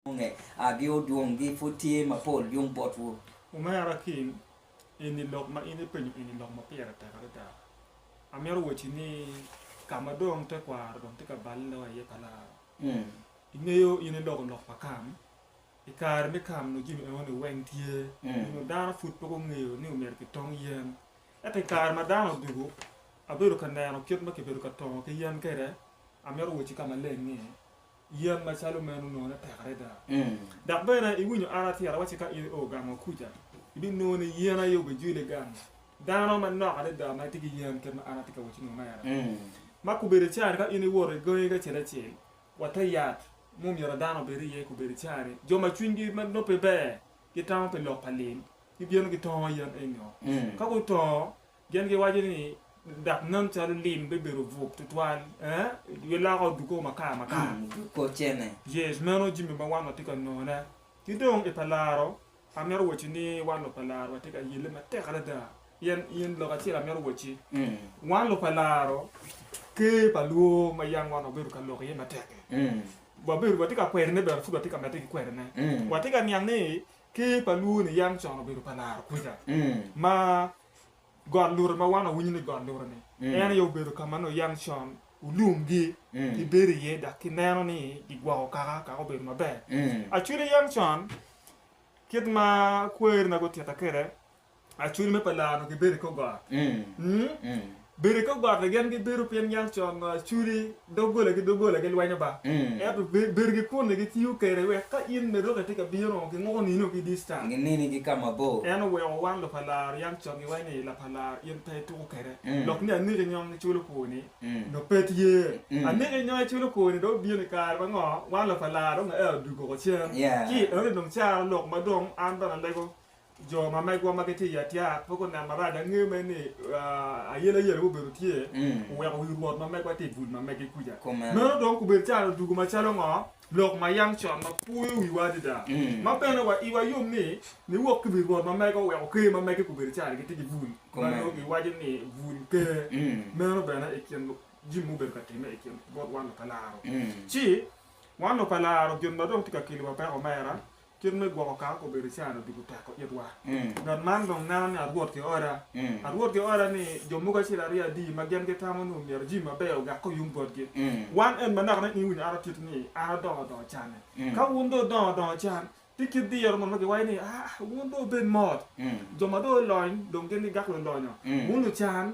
Onge a gi odwong gi pud tye mapol yung bot wu. Omera Kim, eni lok ma in ipenyo eni lok ma pire tek adada. Amito wacci ni ka ma dong tekwaro dong tye ka balle lok aye pa laro. Ingeyo in iloko lok pa Kam, i kare me Kam nongo jami eno ni weng tye, onyo dano pud pe gungeyo ni omyero ki tong yen. Ento i kare ma dano odugu, abedo ka neno kit ma kibedo ka tongo ki yen kede, amito wacci ka maleng ni, Yen macalo meno nonone tek adada. Dok bene iwinyo an atira wacci ka in io gang wa kuca, ibinongo ni yen aye obijwile gang dano manok adada ma gitye ki yen kit ma an atye ka wacci-nu mere. Ma kobedo cani ka in iwoto i gangi acel acel wa te yat ma omyero dano obed iye, kobedo cani jo ma cwinygi ma nongo pe ber gitamo pi lok pa lil gibino gitongo yen enyo. Ka gutongo, Gin giwaco ni, Dak nen calo lim bibedo bwok tutwal, ee, giloko oduko makar makar. Oduko cene. Yes, meno jami ma wan watye ka none. Ki dong i pa laro, amito waci ni wan lub pa laro watye ka yelle matek adada. Pien, pien lok acel amito waci, wan lub pa laro, Ker pa lwor ma yam wan wabedo ka lok iye matek-ki, wabedo, watye ka kwedone bene, pud watye ka medde ki kwedone. Watye ka niang ni Ker pa lwor-ni yam con obedo pa laro kwija, ma Got Lure ma wan wawinyo ni Got Lure ni, en aye obedo ka ma nongo yam con olumgi gibedo iye dok gineno ni gigwoko kaka kaka obedo maber. Acwili yam con kit ma kwerina gutitta kwede, acwili me pa laa onongo gibedo i kor got. Bedo ki ogotte gen gibedo pien niang con culi doggola ki doggola gilwenyo ba, ento bedo ki kunni gitiyo kede wek ka in me dok itye ka bino ginguko nino ki dista. Ginini ki ka mabor. En oweko wan lupalar yam con giwaco ni lapalar in pe ituko kede lok ni aniki nyong iculo koni nyo pe tye aniki nyong iculo koni dong obino i kare mango wan lupalar dong aye oduggo cen ki enoni dong caro lok madong an bene alego Jo ma megwa ma gitye i Atiat pe gunen marac. Angeyo mere ni ayelayela mubedo tye oweko wi rwot ma megwa tye i bul ma mege kuca. Meno dong gubedo caro dugu macalo ngo? Lok ma yam con ma puyo wiwa adada, ma bene wa iwa yom ni niwok ki wi rwot ma mege oweko ker ma mege gubedo caro gitye ki bul ma nongo giwaco ni bul ker. Meno bene i kin jami mubedo ka timme i kin bot wan lupa laro. Ci, wan lupa laro gin ma dong tye ka keliwa peko omera, Kit me gwoko kar ka obedo caan odiko tek o itwa. Ngat man dong neno ni arwot ki oda. Arwot ki oda ni jo mogo acel aryo adi ma gen gitamo ni omyero jimi maber ogak ko yung bot gi. Wan en manaka ni in wi ato kit ni an adongo dongo caan ne. Ka wun dong idongo dongo caan, ti kit diro mo ma giwaco ni, aa, wun dong wubed mot. Jo ma dong olony dong gen gigak lolonyo. Wun lucaan,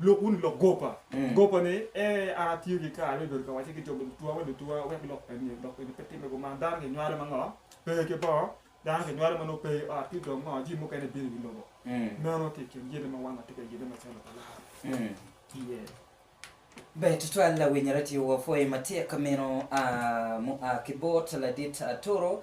Lok wunu lok goba goba ni, Ee, an atiyo ki kare me bedo ka wacce ki jo ma dutuwa ma dutuwa wek lok eni lok eni pe timme kuman. Dano kinywalo ma ngo? Pe ki bongo. Dano kinywalo ma nongo pe i ot ci dong ngo? Jami mukene bino i wi lobo. Meno ki i kin gin ma wan watye ka yibbe macalo pa Lawi tye. Ber tutwal awinyere ti wapwoyi matek meno a mua ki bot ladit Aturu